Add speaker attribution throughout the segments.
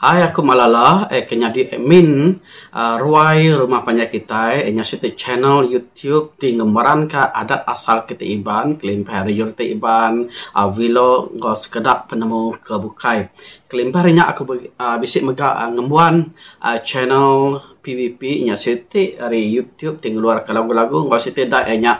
Speaker 1: Hai aku Malala eh ke nyadi admin uhh ruai rumah panjai kitai eh ngasuh ti channel YouTube ti ngemeranka adat asal kitai Iban, kelimpah ari orang ti Iban uhh vlog enggau sekeda penemu ke bukai. Kelimpah ari nya aku uhh bisi mega ngembuan uhh channel PVP nya siti ari YouTube ti ngeluarka lagu-lagu enggau siti da iya nya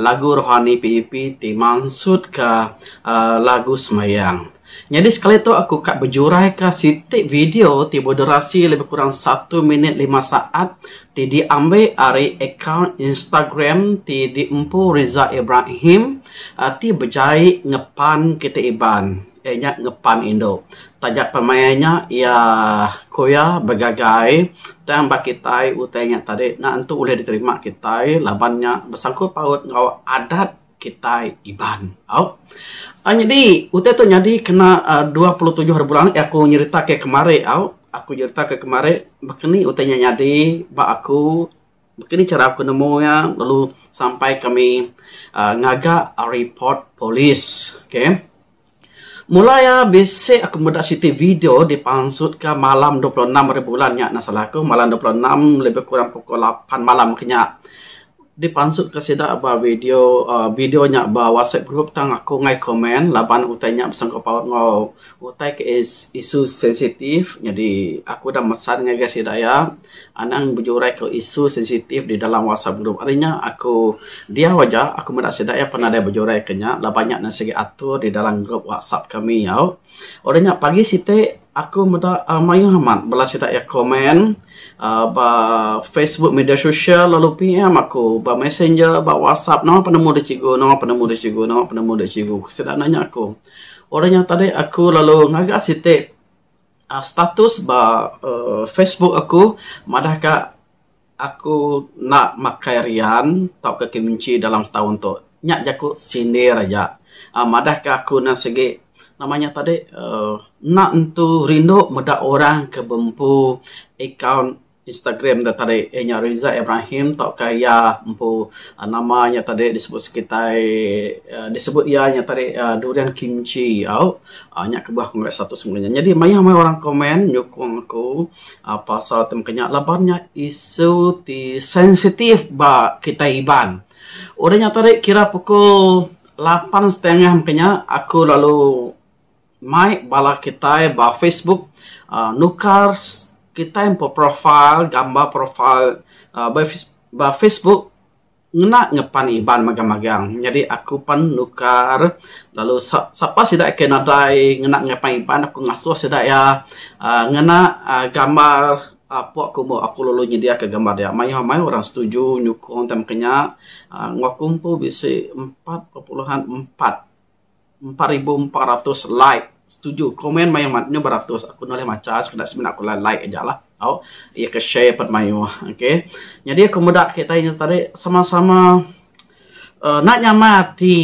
Speaker 1: lagu rohani PVP ti mansutka uhh lagu sembahyang. Nyadi sekali tu aku ka bejuraika siti video ti bedurasi lebih kurang satu minit lima saat ti diambil ari akaun Instagram ti diempu Rizal Ibrahim ti bejai ngepan kitai Iban iya nya ngepan indu taja pemain nya iya ku iya begagai tang ba kitai utai nya tadi enda tentu ulih diterima kitai laban nya bersangkut paut enggau adat kitai Iban. Au. Au nyadi utai tu nyadi kena aaa dua puluh tujuh hari bulan aku nyerita ke kemari au. Aku nyerita ke kemari baka ni utai nya nyadi ba aku baka ni chara aku nemu iya lalu sampai kami aaa ngaga report polis. Okay. Mulai iya bisi aku meda siti video dipansut ka malam dua puluh enam hari bulan nya enda salah ku malam dua puluh enam lebih kurang pukul lapan malam ke nya dipansut ka sida ba video uhh video nya ba whatsapp group tang aku ngai komen laban utai nya besangkut paut enggau utai ke isu sensitif nyadi aku ida mesan ngagai sida iya. Anang bejurai ku isu sensitif di dalam WhatsApp group. Ari nya aku diau aja, aku meda sida iya pan nadai bejurai ke nya laban nya ne sigi atur di dalam group WhatsApp kami au. Udah nya pagi siti aku meda uhh mayuh amat bala sida iya komen uhh ba Facebook media sosial lalu PM aku ba messenger ba WhatsApp nama penemu dek cikgu, nama penemu dek cikgu, nama penemu dek cikgu. Sida nanya aku. Udah nya tadi aku lalu ngaga siti. Status ba Facebook aku madah ka aku enda makai rian tauka keminchi dalam setaun tu. Nya jaku sindir aja madah ka aku ne sigi nama nya tadi uhh enda tentu rindu meda orang ke bempu akaun Instagram da tadi iya nya Riza Ibrahim tauka iya empu nama iya tadi disebut sekitai uhh disebut iya nya tadi uhh Durian Kimchi au uhh nya kebuah ku ngagai status aku nya. Nyadi mayuh maya orang komen nyukung aku uhh pasal ti mung ka nya laban nya isu ti sensitif ba kitai Iban. Udah nya tadi kira pukul lapan setengah mung ka nya aku lalu. mai bala kitai ba facebook uhh nukar kitai empu profile gambar profile ba facebook ngena ngepan iban magang magang nyadi aku pan nukar lalu sapa sida ke nadai ngena ngepan iban aku ngasuh sida iya uhh ngena uhh gambar pok aku moh aku lalu nyedia ka gambar dia mayuh mayuh orang setuju nyukung time ke nya uhh aku empu bisi empat perpuluhan empat. empat ribu empat ratus like setuju komen mayuh mat nyau beratus aku nulih macha sekeda semina aku alai like aja lah tau iya ke share pat mayuh okay nyadi aku meda kitai nya tadi sama sama uhh enda nyamai ati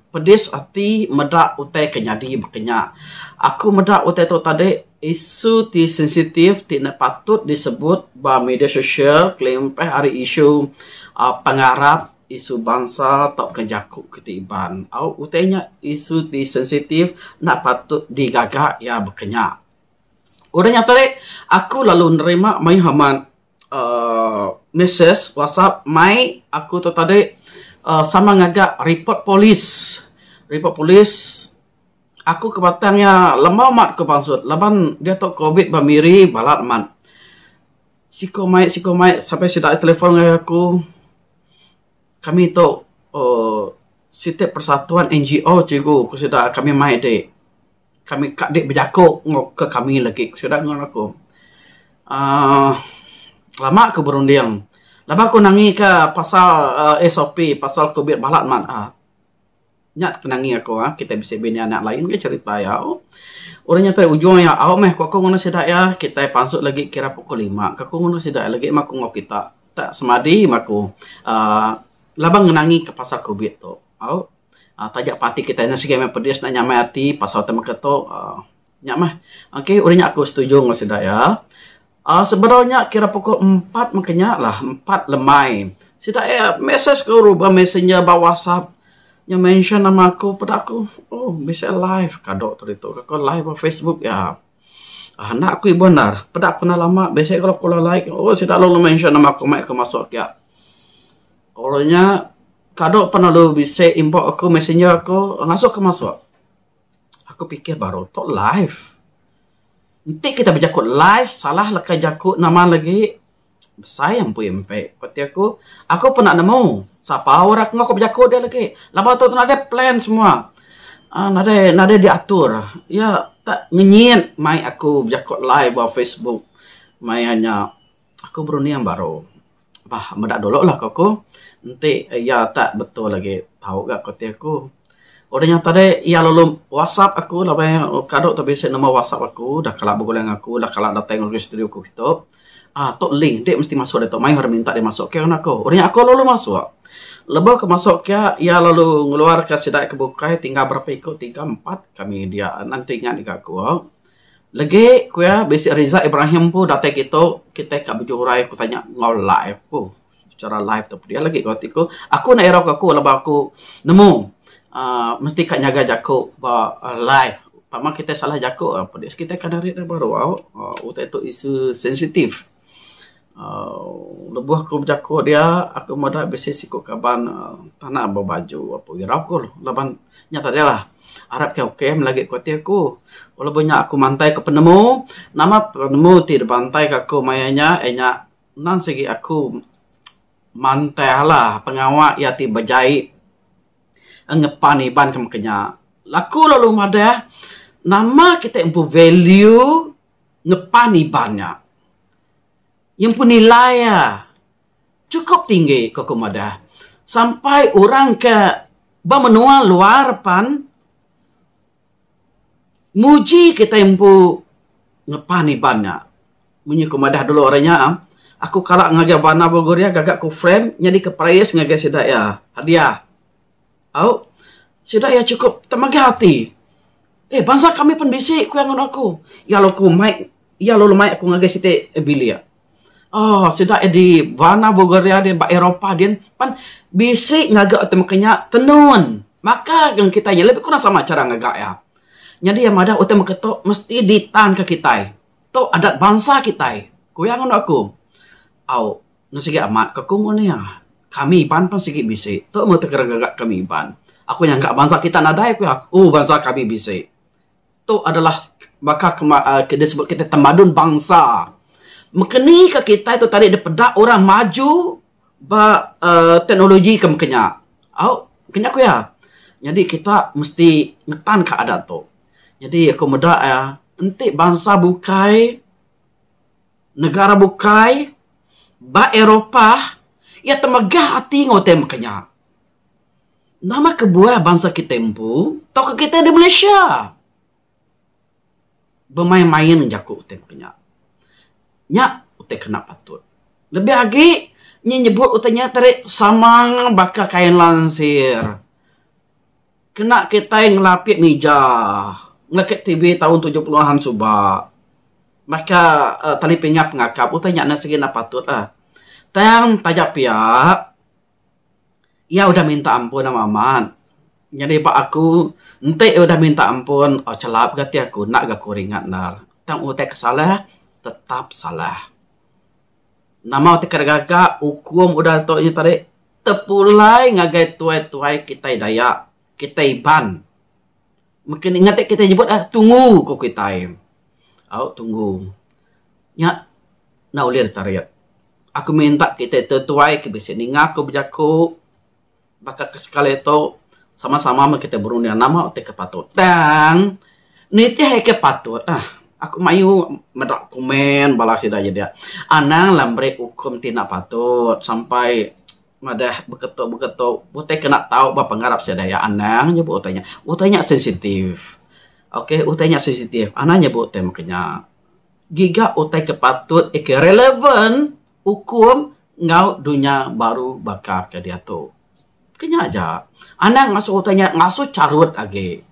Speaker 1: pedis ati meda utai ke nyadi baka nya aku meda utai tu tadi isu ti sensitif ti enda patut disebut ba media sosial kelimpah ari isu uhh pengarap isu bansa tauka jaku ke ti Iban. Au utai nya isu ti sensitif enda patut digaga iya baka nya. Udah nya tadi aku lalu nerima mayuh amat uhh message WhatsApp mai aku tu tadi uhh sama ngaga report polis. Report polis aku ke batang iya lembau amat ku pansut laban diatu Covid ba miri balat amat. Siko mai siko mai sampai sida aja telefon ngagai aku. Kami tu uhh siti persatuan NGO cikgu ku sida kami mai dik. Kami ka dik bejako enggau ke kami lagi ku sida ngeran aku. uhh lama ku berunding laban ku nangi ka pasal uhh SOP pasal Covid balat mat uhh. Nya penangi aku ah kita bisi bini anak lain ka cerita iya au. Orang nyata ujung iya au meh ku aku ngundah sida iya kita pansut lagi kira pukul lima ka aku ngundah sida iya lagi meh aku enggau kita ta semadi meh aku aaa laban ngenangi ka pasal covid tu au. Taja parti kita nya sigi meh pedis nya nyamai ati pasal tema ka tu aaa. Nya mah. Ok, udah nya aku setuju enggau sida iya. Aaa sebedau nya kira pukul empat mengki nya lah, empat lemai. Sida iya message aku ba messenger ba whatsapp nya mention nama aku peda aku, oh bisi live kado tu ditu. Ku aku live ba facebook iya. Aaa enda aku ibuh endar. Peda aku enda lama bisi ku aku alai alai. Oh sida lalu mention nama aku mai aku masuk iya. Orang nya kado pan lalu bisi inbox aku, messenger aku, ngasuh aku masuk. Aku pikir baru tu live. Enti kita bejaku live salah leka jaku nama lagi besai ampui mpe ku ti aku. Aku pun enda nemu sapa orang tengah ku bejaku dia lagi. Laban tu tu nadai plan semua uhh nadai nadai diatur. Iya tak ngenyit mai aku bejaku live ba facebook maya nya aku berunding baru. Bah meda dulu lah ko ku. Enti iya tak betul agi tau ga ko ti aku. Udah nyau tadi iya lalu wasap aku laban iya kado tau bisi number wasap aku dah kala begulai ngan aku dah kala datai ngagai studio aku kitu. Aaa tu link enti mesti masuk ditu mayuh ira minta dep masuk ke ngan aku. Udah nya aku lalu masuk. Lebuh aku masuk ke iya lalu ngeluar ka sida ke bukai tinggal berapa iku tiga empat kami dia. Nan tu ingat ga aku. Legi ku iya bisi Rizal Ibrahim empu datai ke itu kitai ka bejurai ku tanya enggau live ku secara live tu pia lagi ku ati ku aku enda irau ke aku laban aku nemu uhh mesti ka nyaga jaku ba live tama kitai salah jaku kitai ka narit baru au utai tu isu sensitif. uhh lebuh aku bejaku dia aku meda bisi siku kaban uhh tana ba baju aku irau ku laban nya tadi lah arap ke okay meh lagi ku ati aku. Lebuh nya aku mantai ku penemu nama penemu ti dibantai ke aku maya nya iya nya nan sigi aku mantai alah pengawa iya ti bejai ngeban iban ke meka nya. Aku lalu madah nama kitai empu value. ngepan iban nya. Nyempu nilai iya chukup tinggi ku aku madah sampai orang ke ba menua luar pan muji kitai empu ngepan iban nya. Mung nya aku madah dulu ari nya aku kala ngagai bandar Belguria gaga ku frame nyadika praise ngagai sida iya hadiah. Au, sida iya chukup temegah ati. Eh, bansa kami pen bisi, ku iya ngunu aku. Iya lalu ku mai, iya lalu mai aku ngagai siti bilik. Oh, sida iya di Varna, Bulgaria din, ba Eropah din, pan bisi ngaga temeka nya tenun. Baka dengan kitai nya, lebih kurang sama chara ngaga iya. Nyadi iya madah utai temeka tu mesti ditanka kitai. Tu adat bansa kitai, ku iya ngunu aku. Au. Nya sigi amat ka ku mung nia. Kami Iban pun sigi bisi. Tu meh ti kira ngaga kami Iban. Aku nyangka bansa kita nadai pia. Oh bansa kami bisi. Tu adalah baka ke uhh ke disebut kita tamadun bansa. Mekeni ka kitai tu tadi dipeda orang maju ba uhh teknologi ke meka nya. Au kena ku iya. Nyadi kita mesti ngetan ka adat tu. Nyadi aku meda iya enti bansa bukai. negara bukai ba Eropah iya temegah ati enggau utai mega nya. Nama kebuah bansa kitai empu tauka kitai di Malaysia bemain-main jaku utai mega nya. Nya utai kena patut. Lebih agi inya nyebut utai nya tadi sama baka kai lansir. Kena kitai ngelapik mija ngelekit TV taun tujuh puluh an suba baka tali pingah pengakap utai nya sigi enda patut lah. Tang taja pia iya udah minta ampun ama amat. Nyadi ba aku enti iya udah minta ampun chelap gati aku enda ga aku ringat enda. Tang utai ke salah tetap salah. Nama ti ka gaga ukum udah tu nya tadi tepulai ngagai tuai-tuai kitai Dayak, kitai Iban. Mungkin nya ngagai kitai nyebut lah tungu ku kitai. Au tungu. Nya enda ulih ditarit. Aku minta kitai tuai-tuai ke bisi ninga aku bejaku. Baka ke sekali tu, sama-sama meh kitai berunding nama ti ke patut. Tang, nitih ai ke patut lah. Aku mayuh meda komen bala sida nya dia. Anang lah meri ukum ti enda patut sampai madah beketu-beketu. Utai ke enda tau ba pengarap sida iya anang nyebut utai nya. Utai nya sensitif. Ok, utai nya sensitif. Anang nyebut utai mung ke nya. Giga utai ke patut, ke relevan. ukum enggau dunya baru baka ke diatu. Ke nya aja, anang ngasuh utai nya ngasuh charut agi.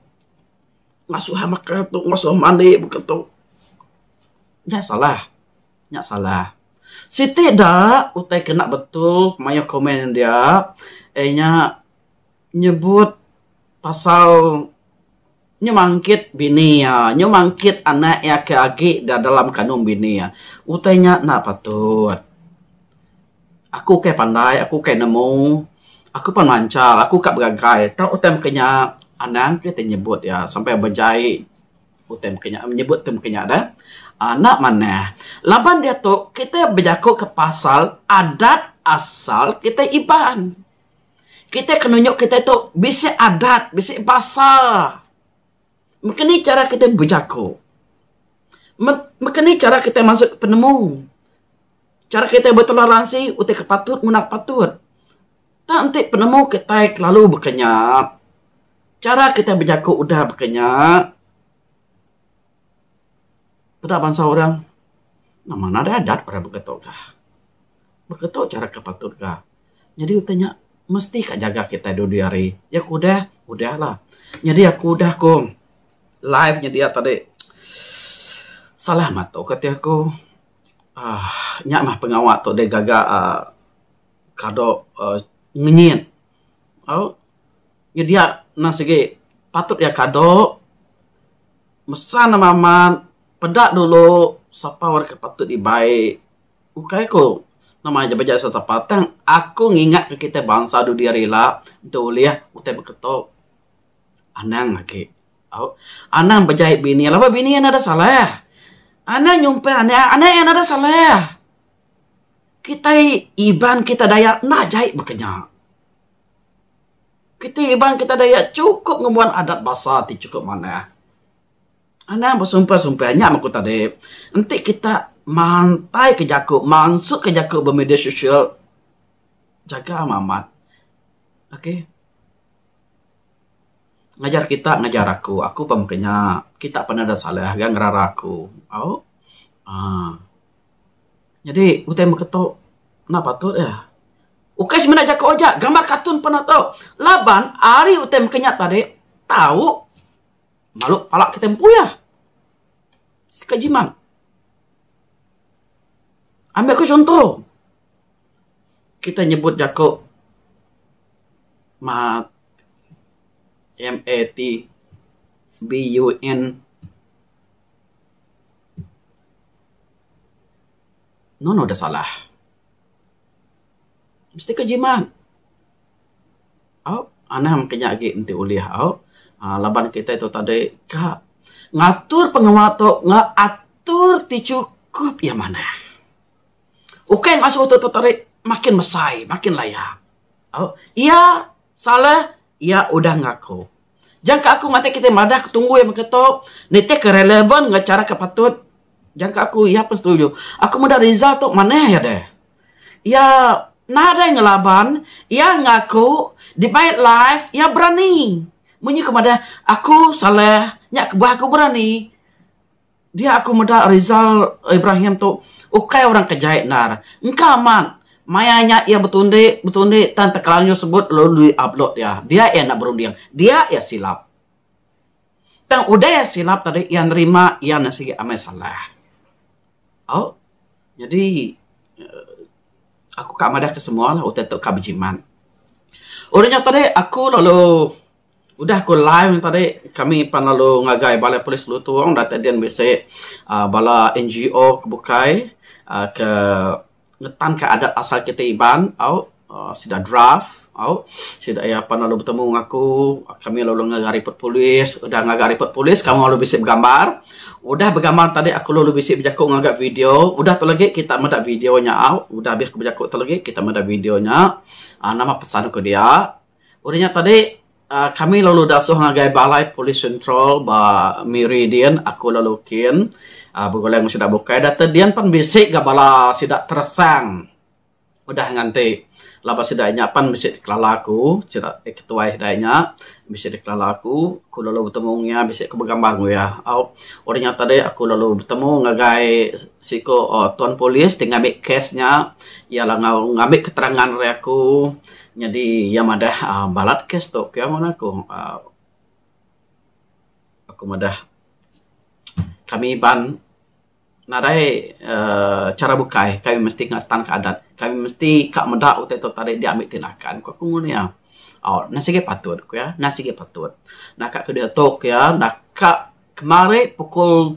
Speaker 1: Ngasuh ai meka tu, ngasuh ai mani meka tu. Nya salah. Nya salah. Siti da utai kena betul mayuh komen india, iya nya nyebut pasal nyemangkit bini iya, nyemangkit anak iya ke agi da dalam kandung bini iya. Utai nya enda patut. Aku ukai pandai, aku ukai nemu, aku pan manchal, aku ka begagai. Tau utai meka nya, anang ke ti nyebut iya sampai bejai utai meka nya, nyebut utai meka nya deh. uhh enda manah. Laban diatu kitai bejaku ke pasal adat asal kitai Iban. Kitai kena nunjuk kitai tu bisi adat, bisi basa. Mengke ni chara kitai bejaku. Meng, mengke ni chara kitai masuk penemu. Chara kitai betoleransi utai ke patut ngundah ke patut. Tak enti penemu kitai kelalu beka nya, chara kitai bejaku udah beka nya. Peda bansa orang memang ne adeh adat orang beketo ka. Beketo chara ke patut ka. Nyadi utai nya mesti ka nyaga kitai dua dua hari. Nya ku udah, udah la. Nyadi aku udah ko live nya dia tadi salah meto ka ti aku uhh nya mah pengawa to deh gaga uhh kado uhh ngenyit. Au. nyedia ne sigi patut iya kado mesa ne mamat peda dulu sapa wang deka patut dibai ukai ku nama aja beja sapa sapa tang aku ngingat ke kitai bansa dudi hari ila enta ulih utai beketo anang agi au anang bejai bini laban bini iya nda salah anang nyumpah anak iya anak iya nda salah kitai Iban kitai Dayak enda jai bakanya. Kitai Iban kitai Dayak chukup ngembuan adat basa ti chukup manah. Anang besumpah-sumpah nya meh ku tadi enti kita mantai ka jaku mansuh ka jaku ba media sosial jaga meh amat okay ngajar kita ngajar aku aku pun meh kinya kita pun ada salah ga ngerara aku au aaa. Nyadi utai meketo enda patut iya. Ukai semina jaku aja, gambar katun pun enda tau. Laban ari utai mega nya tadi tau balu pala kitai empu iya. Ka jimat. Ambi ku chunto, kitai nyebut jaku mat, M-A-T, B-U-N. Nonoh da salah. Mesti ka jimat. Au, anang ti nya agi enti ulih au. uhh Laban kitai tu tadi ka ngatur pengawa tu ngatur ti chukup iya manah. Ukai ngasuh tu tadi makin besai, makin laya. Au, iya salah, iya udah ngaku. Jangka aku matik kitai madah ke tunggui baka tu nitih ke relevan enggau chara ke patut jangka aku iya pun setuju. Aku meda Rizal tu manah iya deh. Iya nadai ngelaban iya ngaku dibai live iya berani. Munyi ku madah aku Saleh nya kebuah aku berani. Dia aku meda Rizal Ibrahim tu ukai orang ke jai endar. Engka amat. Maya nya iya betundi, betundi tang tekelanjur sebut lalu lui ablut iya. Dia iya enda berunding. Dia iya silap. Tang udah iya silap tadi iya nerima iya nya sigi amai salah. Au. Nyadi aku ka madah ke semua utai tu ka bejimat. Udah nya tadi aku lalu. Udah ku live nya tadi kami pan lalu ngagai balai polis Lutong datai din bisi aaa bala NGO ke bukai aaa ke ngetan ka adat asal kita Iban au aaa sida draft au sida iya pan lalu betemu enggau aku kami lalu ngaga ripot polis udah ngaga ripot polis kaul lalu bisi begambar udah begambar tadi aku lalu bisi bejaku ngaga video udah tu lagi kita meda video nya au udah habis ku bejaku tu lagi kita meda video nya aaa nama pesan ku dia. Udah nya tadi Uh, kami lalu dasuh ngagai balai polis sentral ba Miri din aku lalu kin uh, begulai ngan sida bukai data din pan bisi ga bala sida teresang udah nganti laba sida nya pan bisi dikelala aku sida eh ketuai sida nya bisi dikelala aku ku lalu betemu ngan iya bisi ku begambar ngan iya au udah nya tadi aku lalu betemu ngagai siku uh, tuan polis ti ngambi kes nya iya langau ngambi keterangan ari aku Nyadi iya madah balat kes tu pia mung aku uhh aku madah kami Iban nadai uhh chara bukai kai mesti ngeretan ka adat kai mesti ka meda utai tu tadi dia mih ti lakan ku aku ngun iya. Au nan sigi patut ku iya nan sigi patut naka ke diatu ku iya naka kemari pukul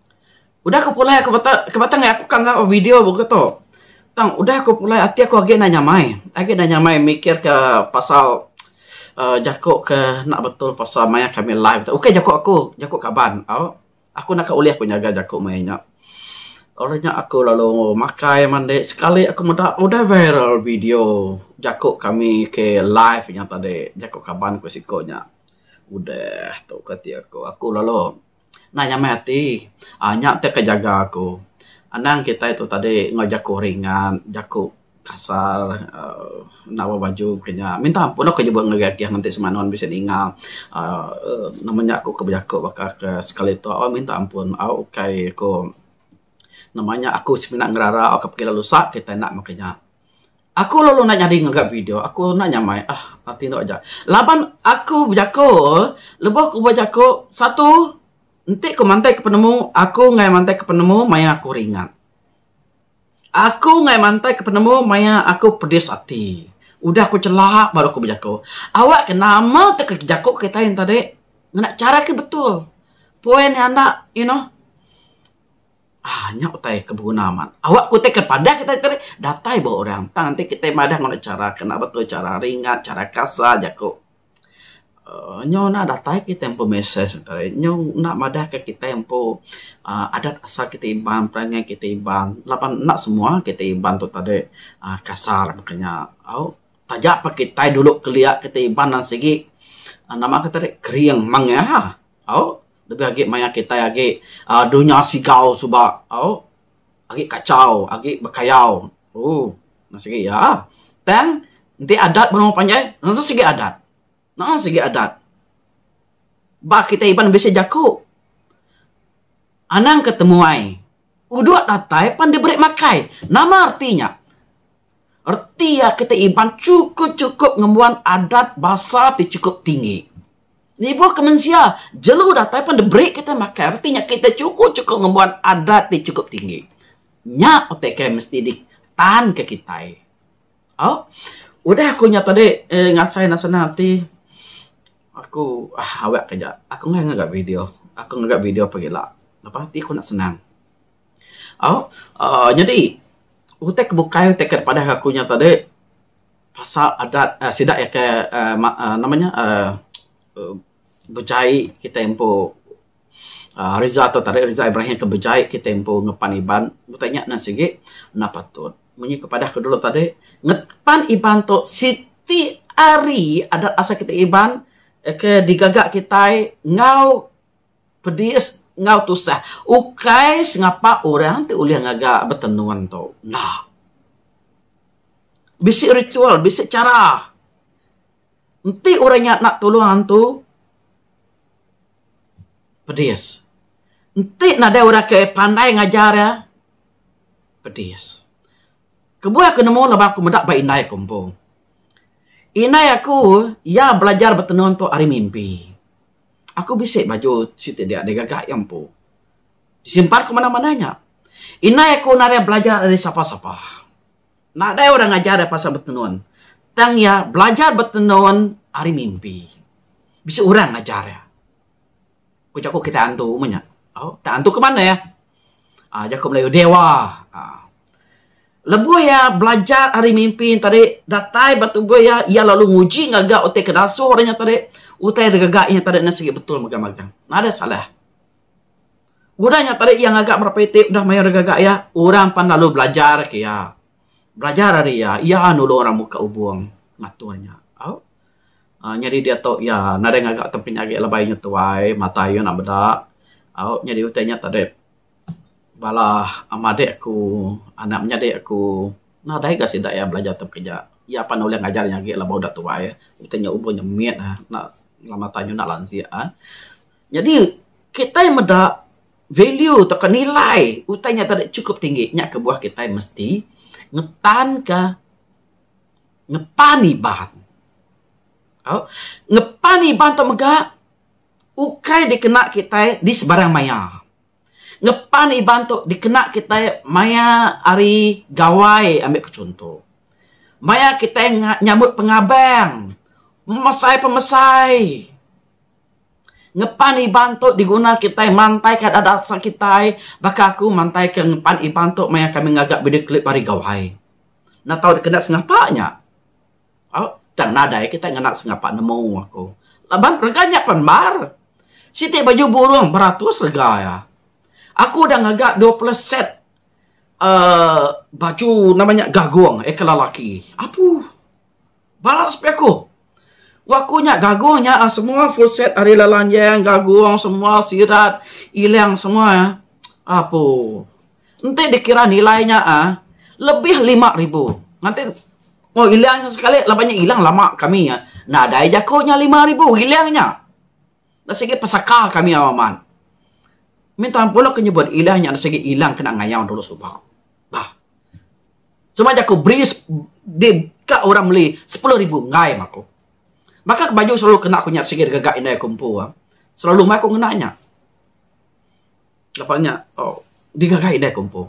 Speaker 1: Udah ku pulai aku bata ke batang aku ka enggau video boh tu. Tang udah ku pulai ati aku agi enda nyamai. Agi enda nyamai mikir ke pasal uhh jaku ke enda betul pasal maya kami live tu. Ukai jaku aku, jaku kaban au. Aku enda ka ulih ku nyaga jaku maya nya. Orang nya aku lalu makai mandi sekali aku meda udah viral video jaku kami ke live nya tadi. Jaku kaban ku siko nya. Udah tu ke ati aku. Aku lalu. Enda nyamai ati uhh nya ti ka jaga aku. Anang kitai tu tadi enggau jaku ringan, jaku kasar uhh enda berapa baju ke nya. Minta ampun lah ku nyebut ngagai agi aku ti semanu anu bisi ninga uhh nama nya aku ke bejaku baka ke sekali tu au minta ampun au kai ku nama nya aku semina ngerara au ke pegi lalu usak kitai enda meh ke nya. Aku lalu enda nyadi ngaga video. Aku enda nyamai. Ah, ati enda aja. Laban aku bejako, lebuh ku bejako, satu, enti ku mantaika penemu, aku ngai mantaika penemu maya aku ringat. Aku ngai mantaika penemu maya aku pedis ati. Udah ku chela baru aku bejako. Awak ke nama tu ke jako kitai enti tadi ngena chara ke betul. Point nya enda, you know. Aaa nya utai ke beguna amat. Awak ku tei kepadah kitai tadi datai ba orang tang enti kitai madah ngena chara ke enda betul chara ringat chara kasar jaku aaa nyau enda datai kitai empu mesej enta ai nyau enda madah ka kitai empu aaa adat asal kitai Iban perangai kitai Iban laban enda semua kitai Iban tu tadi aaa kasar maka nya au taja pa kitai dulu kelia kitai Iban nan sigi nama ka tadi kering mengeh au. Lebih agi maya kitai agi uhh dunya sigau suba au agi kachau agi bekayau ooh meh sigi iya. Tang enti adat benung panjai enti sigi adat maan sigi adat. Ba kitai Iban bisi jaku anang ke temuai Udok datai pan diberi makai. Nama reti nya? Reti iya ke ti Iban chukup-chukup ngembuan adat basa ti chukup tinggi. Nibuh ke mensia, jelu datai pan diberi kitai makai. Reti nya kitai chukup-chukup ngembuan adat ti chukup tinggi. Nya utai ke mesti ditanka kitai. Au, udah aku nya tadi uhh ngasai ne senang ati. Aku uhh awak ke aja. Aku ngah ngaga video. Aku ngaga video pagi ila. Lepas ati aku nak senang. Au, uhh nyadi utai ke bukai utai ke padah aku nya tadi pasal adat uhh sida ke uhh uhh nama nya uhh uhh bejai kitai empu uhh Rizal tu tadi, Rizal Ibrahim ke bejai kita empu ngepan Iban. Utai nya nan sigi enda patut. Mung anih ku padah ku dulu tadi, ngepan Iban tu siti ari adat asal kita Iban ke digaga kitai enggau pedis enggau tusah. Ukai sengapa orang ti ulih ngaga betenun tu. Enda. Bisi ritual, bisi chara. Enti orang nya enda tulung antu. pedis. Enti nadai orang ke pandai ngajar iya pedis. Kebuah aku nemu laban aku meda ba indai aku empu. Indai aku iya belajar betenun tu ari mimpi. Aku bisi baju siti dia dei gaga iya empu. Disimpan ku manah-manah nya. Indai aku nadai belajar ari sapa-sapa. Nadai orang ngajar iya pasal betenun. Tang iya belajar betenun ari mimpi. Bisi orang ngajar iya. Ku jaku kitai antu meh nya. Au, kitai antu ke manah iya? Aa, jaku Melayu, dewa. Aa. Lebuh iya belajar ari mimpi nya tadi, datai ba tubuh iya, iya lalu nguji ngaga utai kedasuh orang nya tadi. Utai da gaga iya tadi ne sigi betul mega magang. Nadai salah. Udah nya taja iya ngaga berapa iti udah mayar gaga iya orang pan lalu belajar ke iya. Belajar ari iya, iya nulung orang muka ubung ngatur nya. Au uhh nyadi diatu iya nadai ngaga tempinya agi lebai inya tuai mata iya enda meda. Au nyadi utai nya tadi bala ama adik aku anak menyadi aku nadai ga sida iya belajar tempi nya. Iya pan ulih ngajar inya agi laban udah tuai. Utai nya umur nya mit uhh enda mata inya enda lansik uhh. Nyadi kitai meda value tauka nilai utai nya deka chukup tinggi nya kebuah kitai mesti ngetanka ngetan iban. Au ngetan iban tu mega ukai dikena kitai di sebarang maya. Ngetan iban tu dikena kitai maya hari gawai ambil ku chunto. Maya kitai nyambut pengabang, memesai pemesai. Ngepan Iban tu diguna kitai mantaika adat asal kitai. Baka aku mantaika ngepan Iban tu maya kami ngaga video clip ari Gawai. Enda tau dikena sengapa nya. Au, tang nadai kitai ngena sengapa nemu aku. Laban rega nya pan mbar. Siti baju burung beratus rega iya. Aku udah ngaga dua pulas set uhh baju nama nya gagung ikal lelaki. Apuh. Balas pia ku. Wak aku nya gagung nya ah semua full set ari lalanjang gagung semua sirat ilang semua ah apu enti dikira nilai nya ah lebih lima ribu nganti oh ilang nya sekali laban nya ilang lama kami ah nadai jaku nya lima ribu ilang nya da sigi pesaka kami au amat minta ampun lo ke nyebut ilang nya da sigi ilang kena ngayau dulu suba bah. Sema jaku beri di ka orang meli sepuluh ribu enggai meh aku. Baka ke baju selalu kena aku nya sigi gaga indai aku empu ah. Selalu meh aku ngena nya. Lepa nya oh digaga indai aku empu.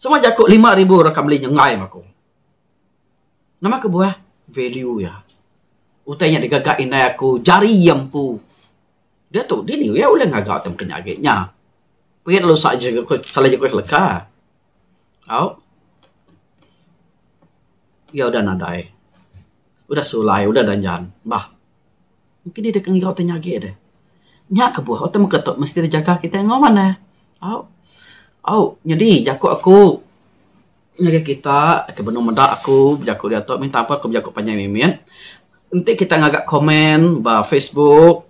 Speaker 1: Sema jaku lima ribu orang ka meli nya enggai meh aku. Nama kebuah value iya. Utai nya digaga indai aku jari iya empu. Diatu dini iya ulih ngaga tem ke nya agi nya. Pia lalu sa ji salah jaku seleka. au iya udah nadai udah sulai udah danjan bah engki deh deka ngiga utai nya agi deh. Nya kebuah utai meka tu mesti deh jaga kitai nguman ne au au nyadi jaku aku ngagai kita ke benung meda aku bejaku diatu minta ampun aku bejaku panjai mimit enti kita ngaga komen ba facebook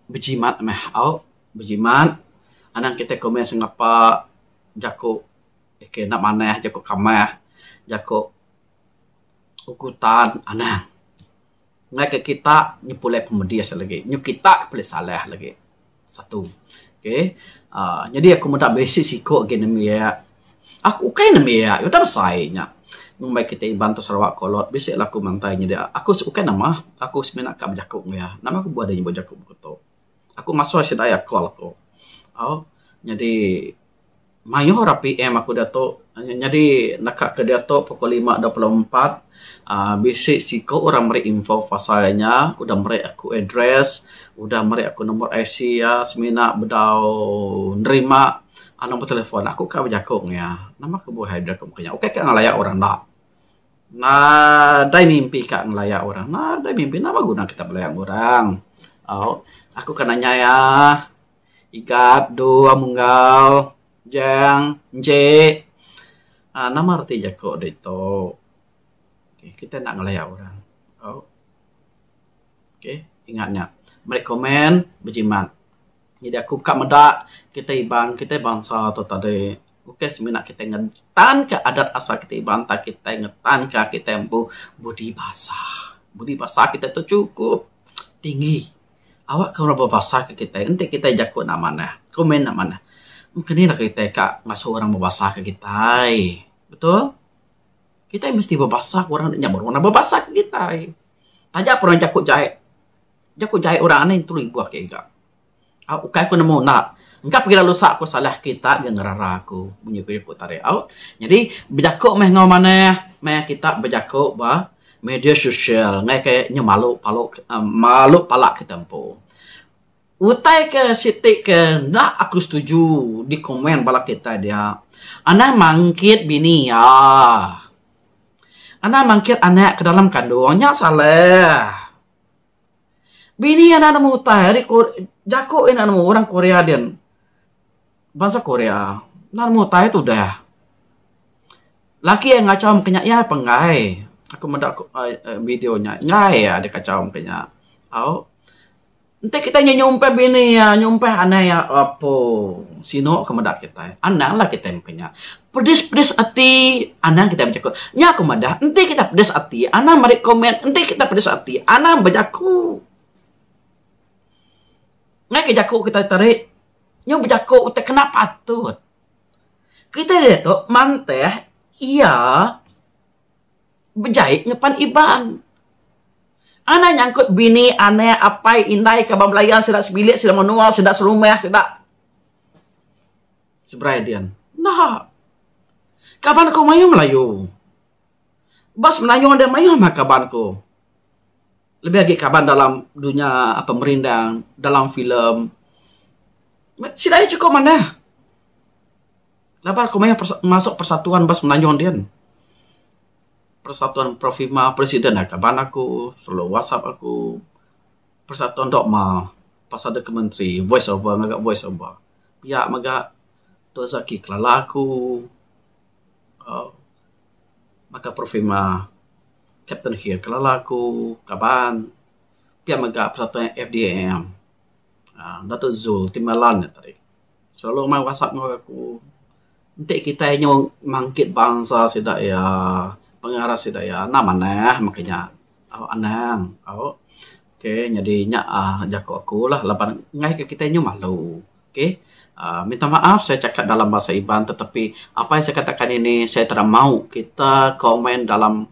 Speaker 1: bejimat meh au bejimat anang kitai komen sengapa. jaku aka enda manah, jaku kamah, jaku utan anang. Ngagai kita nya pulai pemedis lagi. Nyuh kita pulai salah lagi. Satu. Okay. uhh Jadi aku meda bisi siku agi nemu iya. Aku ukai nemu iya. Udah besai nya. Mung maya kita Iban ti Sarawak kolod, bisi lah aku mantai nyidi. Aku ukai nama. Aku semina ka bejaku enggau iya. Nama ku buah deh nyebut jaku baka tu. aku masui sida iya call aku au nyadi mayuh ra PM aku diatu nyadi naka ke diatu pukul lima dua puluh empat uhh bisi siku ra meri info pasal inya udah meri aku address udah meri aku number IC iya semina bedau nerima number telefon. Aku ka bejaku meng iya nama kebuah address aku meng kinya ukai ka ngelaya orang enda. Nadai mimpi ka ngelaya orang. Nadai mimpi. Nama guna kitak belaya enggau orang. Au. Aku ka nanya iya. Igat, dua, munggal, jang, nje. Aaa nama reti jako ditu. Kita enda ngelaya orang. Au. Okey. Ingat nya. Meri komen bejimat. Nyadi aku ka meda kitai Iban, kitai bansa tu tadi bukai semina kitai ngetanka adat asal kitai Iban tang kitai ngetanka kitai empu budi basa. Budi basa kitai tu chukup tinggi. Awak ke orang bebasa ke kitai enti kitai jaku enda manah, komen enda manah, mung ke nih lagu kitai ka ngasu orang bebasa ke kitai. Betul? Kitai mesti bebasa ke orang nya baru orang bebasa ke kitai. Taja pun orang jaku jai. Jaku jai orang ni telu ibuh agi ga. Au ukai ku nemu enda. Engka pagi lalu sa ku salah kita agi ngerara aku munyi ku jaku tarik au. Nyadi bejaku meh enggau manah meh kita bejaku ba media sosial ngai ke nyau malu palu uhh malu pala kita empu. Utai ke siti ke enda aku setuju di komen bala kitai dia anang mangkit bini iya. Anang mangkit anak ke dalam kandung nya salah. Bini iya enda nemu utai ari jaku iya enda nemu orang Korea din. Bansa Korea enda nemu utai tudah. Laki iya ngachau mung kinya iya pun enggai. Aku meda video nya enggai iya deh kachau mung kinya. Au enti kitai neh nyumpah bini iya nyumpah anak iya apu sinu ke meda kitai. Anang lah kitai mung kinya. Pedis-pedis ati anang kitai bejaku. Nya aku madah, enti kitai pedis ati anang meri komen, enti kitai pedis ati anang bejaku. Ngaika jaku kitai tadi nyau bejaku ti kena patut. Kitai diatu manteh iya bejai ngeban Iban. Anang nyangkut bini, anak, apai, indai, kaban belayan sida sebilik, sida menua, sida serumah, sida. Seberai din. Enda. Kaban aku mayuh Melayu. Ba semenanjung enda mayuh meh kaban aku. Lebih agi kaban dalam dunya pemerindang, dalam filem. Sida ayu chukup manah. Laban aku mayuh masuk persatuan ba semenanjung din. Persatuan Profima, presiden ne kaban aku, lalu whatsapp aku. Persatuan Dog Ma pasal deka menteri voice over ngaga voice over pia mega Tun Zaki Kelala aku uhh baka Profema Captain Khir Kelala aku kaban pia mega Persatuan FDAM uhh Dato Zul Timbalan nya tadi. selalu main whatsapp ngan orang aku enti kitai nyau mangkit bansa sida iya pengarap sida iya anang manah meh kinya au anang au okay nyadi nya um jaku aku lah laban ngaika kitai nyau malu okay um minta maaf saya chakat dalam bahasa iban tetapi apai saya kata kali ni saya tara mau kita komen dalam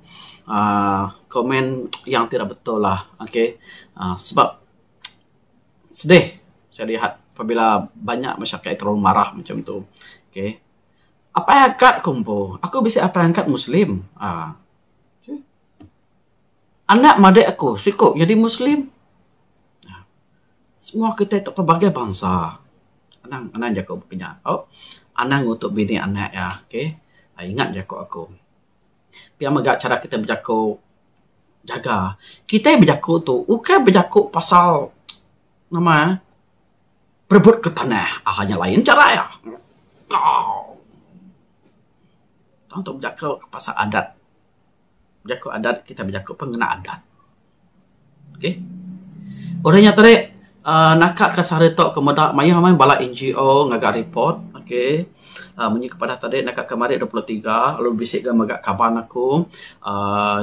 Speaker 1: um komen yang tira betul lah okay um sebab Sedih saya lihat pabila banyak masyarakat nya terlalu marah macam tu. Okay. Apai angkat ku empu. Aku bisi apai angkat Muslim uhh. Anak madik aku siku nyadi Muslim. Semua kitai tu pelbagai bansa. Anang, anang jaku baka nya. Anang ngutuk bini anak iya. Okay. Ingat jaku aku. Pia mega chara kitai bejaku jaga. Kitai bejaku tu ukai bejaku pasal nama eh perebutka tanah aaa nya lain chara iya. Tau. Tang tok bejaku pasal adat. Bejaku adat kitai bejaku pun ngena adat. Okay. Udah nya tadi uhh naka ka sehari tok ku meda mayuh meh bala NGO ngaga report okay uhh munyi ku padah tadi naka ka mari dua puluh tiga lalu bisi ga mega kaban aku uhh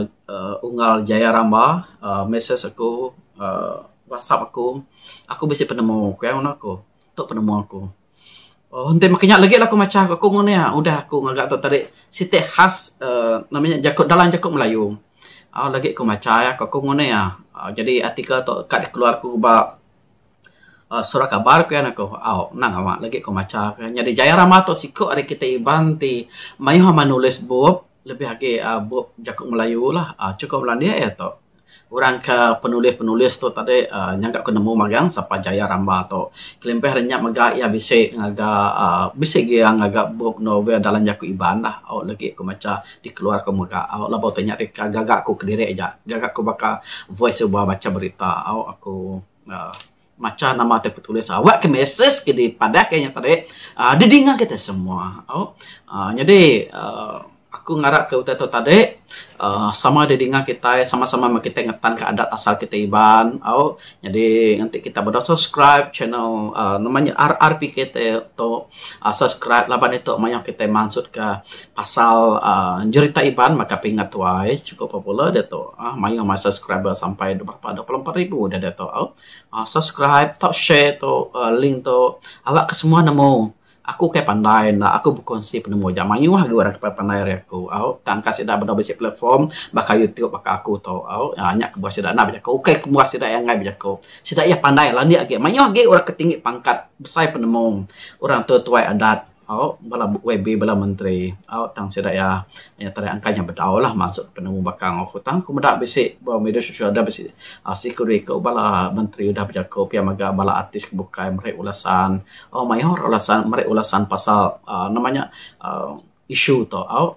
Speaker 1: Unggal Jaya Ramba uhh message aku uhh whatsapp aku. Aku bisi penemu ku iya ngundah aku. Tu penemu aku. Oh enti maka nya lagi lah aku macha aku ngun iya udah aku ngaga tu tadi siti khas uhh nama nya jaku dalam jaku melayu. Au lagi ku macha iya ku aku ngun iya uhh jadi artikel tu ka dikeluar ku ba uhh surat kabar ku iya ne ku au nang ama lagi ku macha ku iya. Nyadi Jaya Rama tu siku ari kitai Iban ti mayuh ama nulis bup lebih agi uhh bup jaku melayu lah uhh chukup landik iya tu. Orang ke penulis-penulis tu tadi uhh nyangka aku nemu magang sapa Jaya Ramba tu. Kelimpah nya mega iya bisi ngaga uhh bisi lagi iya ngaga bup novel dalam jaku Iban lah. Au lagi ku macha dikeluar ku mega au laban tu nya deka gaga ku kediri aja. Gaga ku baka voice over bacha berita au aku uhh. macha nama ti betulis awak ke message ke dipadah ke nya tadi um didinga kita semua tau um nyadi um aku ngarap ke utai tu tadi um sama didinga kitai sama sama meh kitai ngetan ke adat asal kitai Iban tau nyadi enti kita beda subscribe channel um nama nya RRPK tu subscribe laban ditu mayuh kitai mansut ka Pasal jerita Iban mega pingat tuai chukup popular diatu mayuh mah subscriber sampai dua puluh empat puluh ribu dah diatu. Subscribe tau share tu link tu aba ke semua nemu. Aku kai pandai enda aku bekuansi penemu aja mayuh agi orang ke pandai ari aku au tangka sida beda bisi platform baka YouTube baka aku tu au nya kebuah sida enda bejaku ukai kebuah sida angai bejaku. Sida iya pandai landik agi mayuh agi orang ke tinggi pangkat besai penemu orang tua tuai adat. au bala YB bala menteri au tang sida iya nyadi tarian angkai nya bedau lah maksud penemu baka enggau aku tang aku meda bisi ba media sosial deh bisi siku dua iku bala menteri udah bejaku pia mega bala artis ke bukai meri ulasan au mayuh ulasan meri ulasan pasal uhh nama nya uhh isu tu au.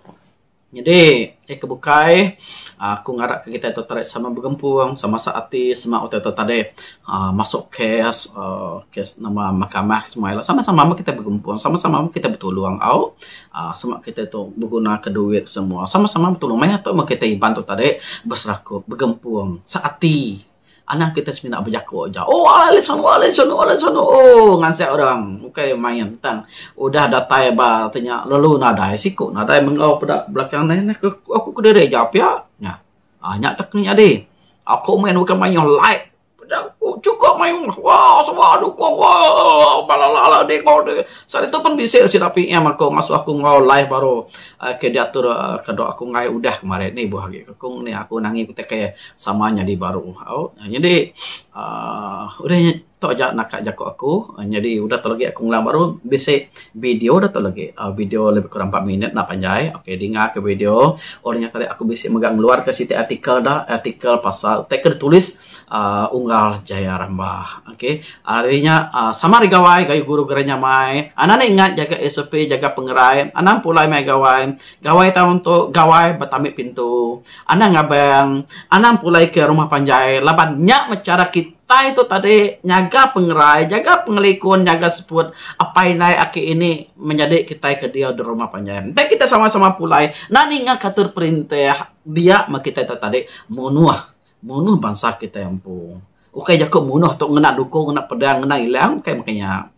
Speaker 1: Nyadi, eh ke bukai, aku ngarapka kitai tu tadi sama begempung, sama sak ati, sema utai tu tadi uhh masuk kes uhh kes nama mahkamah ke semua ila. Sama-sama meh kitai begempung, sama-sama meh kitai betulung au. uhh sema kitai tu begunaka duit semua, sama-sama betulung. Maya tu meh kitai Iban tu tadi beserakup, begempung, sak ati. Anang kita semina bejako aja oh alai sono alai sono alai sono oh ngansek orang bukai main tang udah datai ba te nya lalu nadai siko nadai menggau peda belakang nai na ke aku kediri aja pia na um nya atek ke nyadi ako main bukai mayuh like peda ku chukup mayuh wau suba nyukong wau bala ala ala ding wau ding selalu tu pun bisi sida PM ako ngasuh ako enggau live baru um ke diatur um kado aku main udah kemari ni buh agi ku ni aku nangi ku ti ke sama nyadi baru au nyadi uhh udah tu aja naka jaku aku nyadi udah tu lagi aku ngulang baru bisi video da tu lagi uhh video lebih kurang empat minit enda panjai ok dinga ka video orang nya tadi aku bisi mega ngeluar ka siti artikel da artikel pasal utai ke ditulis uhh unggal Jaya Rambah ok ari nya uhh sama ari gawai gayu guru Geranya mai anak ne ingat jaga sop jaga pengerai anang pulai mai gawai gawai tau entu gawai betami pintu. Anang ngabang, anang pulai ke rumah panjai laban nya meh chara kitai tu tadi nyaga pengerai, nyaga pengelikun, nyaga seput apai indai aki ini menyadi kitai ke diau di rumah panjai. Enti kitai sama-sama pulai enda ninga katur perintah dia meh kitai tu tadi munuh, munuh bansa kitai empu. Ukai jaku munuh tu ngena dukung, ngena pedang, ngena ilang ukai meh ke nya.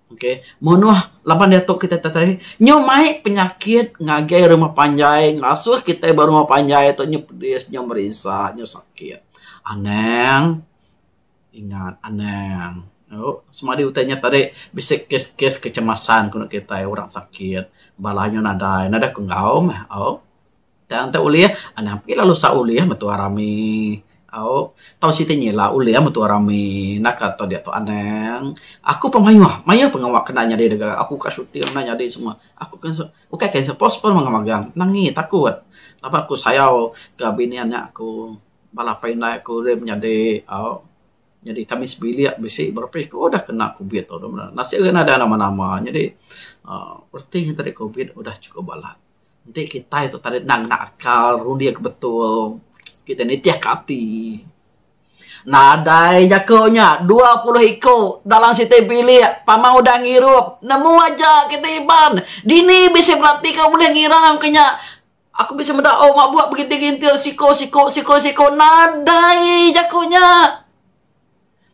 Speaker 1: Okay. Munuh laban dia tok kita tadi. Nyu mai penyakit ngagai rumah panjai. Ngasuh kita ba rumah panjai tu nyu pedis, nyu merisa, nyu sakit. Anang. Ingat anang. Oh, semadi utai nya tadi bisi kes-kes kecemasan kenu kita orang sakit. Bala nyu nadai. Nadai ke enggau meh. Oh. tang enta ulih anang agi lalu sa'u ulih metu rami au tau siti nyila ulih metu rami naka tau diak tau anang aku pa mayuh mayuh pa pengawa kena nyadi da ga aku ka shooting kena nyadi semua aku ka ukai ka hanser post pun mega magang nangi takut laban aku sayau ka bini anak aku bala pa indai aku ri menyadi au nyadi kami sebilik bisi baru pa iko dah kena kubit tu nasib ira ina da nama nama nyadi um reti tadi kubit udah chukup balat. Enti kitai tu tadi enda ngena akal runding ke betul, kitai nitihka ati. Nadai jaku nya dua puluh iku dalam siti bilik pamau udah ngirup. Nemu aja kitai Iban. Dini bisi belati ke ulih ngirang ke nya. Aku bisi meda oh mabuk begintir-gintir siku-siku siku-siku. Nadai jaku nya.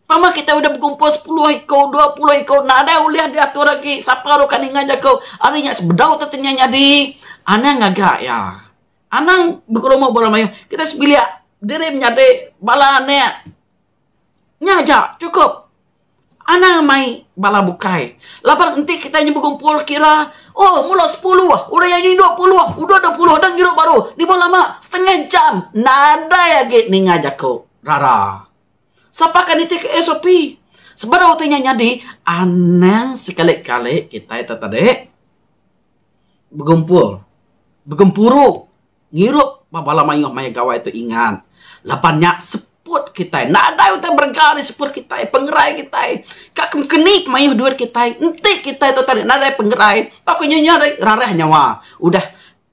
Speaker 1: Pama kita udah bekumpul sepuluh iku, dua puluh iku, nadai ulih diatur lagi. Sapa ruka ninga jaku, ari nya sebedau tu tanya nyadi. Anang ngaga iya. Anang bekerumu ba orang mayuh. Kita sebilik diri menyadi bala anak. Nya aja, cukup. Anang mai bala bukai. Laban enti kita nya bekumpul kira, oh mula sepuluh, udah aja dua puluh, udah dua puluh, dang ngirup baru. Ni baru lama, setengah jam. Nadai agi ninga jaku. rara. Sapa ka nitihka SOP? Sebedau utai nya nyadi, anang sekali-kali kitai tu tadi begempur, begempuru ngirup ba bala mayuh maya gawai tu ingat. Laban nya seput kitai, nadai utai berega ari seput kitai, pengerai kitai. Ka ke mengkeni pemayuh duit kitai, enti kitai tu tadi nadai pengerai tauka nyengeri rarah nyawa, udah.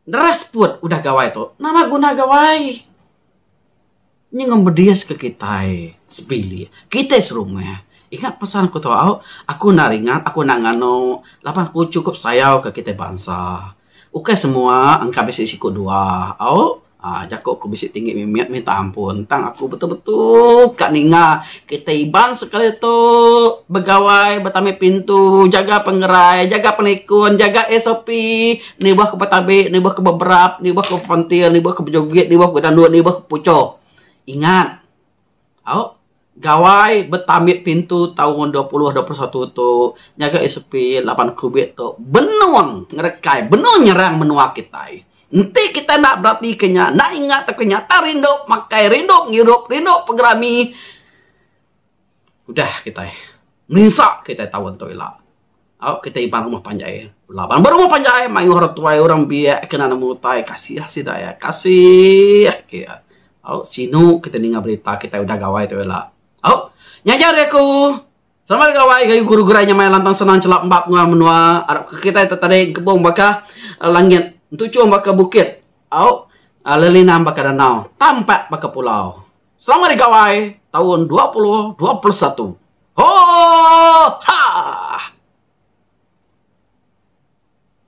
Speaker 1: Neras put udah gawai tu nama guna gawai nyengum bedis ke kitai sebilik kitai serumah ingat pesan ku tau aku enda ringat aku enda nganu laban aku cukup sayau ke kitai bansa ukai semua engka bisi siku dua au uhh jaku ku bisi tinggi mimit minta ampun tang aku betul betul ka ninga kitai Iban sekali tu begawai betampi pintu jaga pengerai jaga penikun jaga SOP. Nibuh ke betabi, nibuh ke beberap, nibuh ke bepentil, nibuh ke bejugit, nibuh ke bedanut, nibuh ke bepucho. Ingat, au, Gawai Betambit Pintu taun dua puluh dua puluh satu tu ngagai SOP laban Covid tu benung ngerekai, benung nyerang menua kitai. Enti kitai enda beratika nya, enda ingat tauka nyata rindu makai, rindu ngirup, rindu pegerami, Udah kitai merinsa kitai taun tu ila. Au kitai iban rumah panjai laban ba rumah panjai mayuh orang tuai orang biak ke nan amu utai kasih sida iya kasih agi iya. Au sinu kitai ninga berita kitai udah gawai tu ila. Au nya aja ari aku. Selamat ari gawai ngagai guru gerai nyamai lantang senang chelap embap nguang menua arap ke kitai te tading kebong baka langit entuchong baka bukit au lelinan baka danau tampat baka pulau. Selamat Hari Gawai taun dua puluh dua puluh satu. Ho! Ha!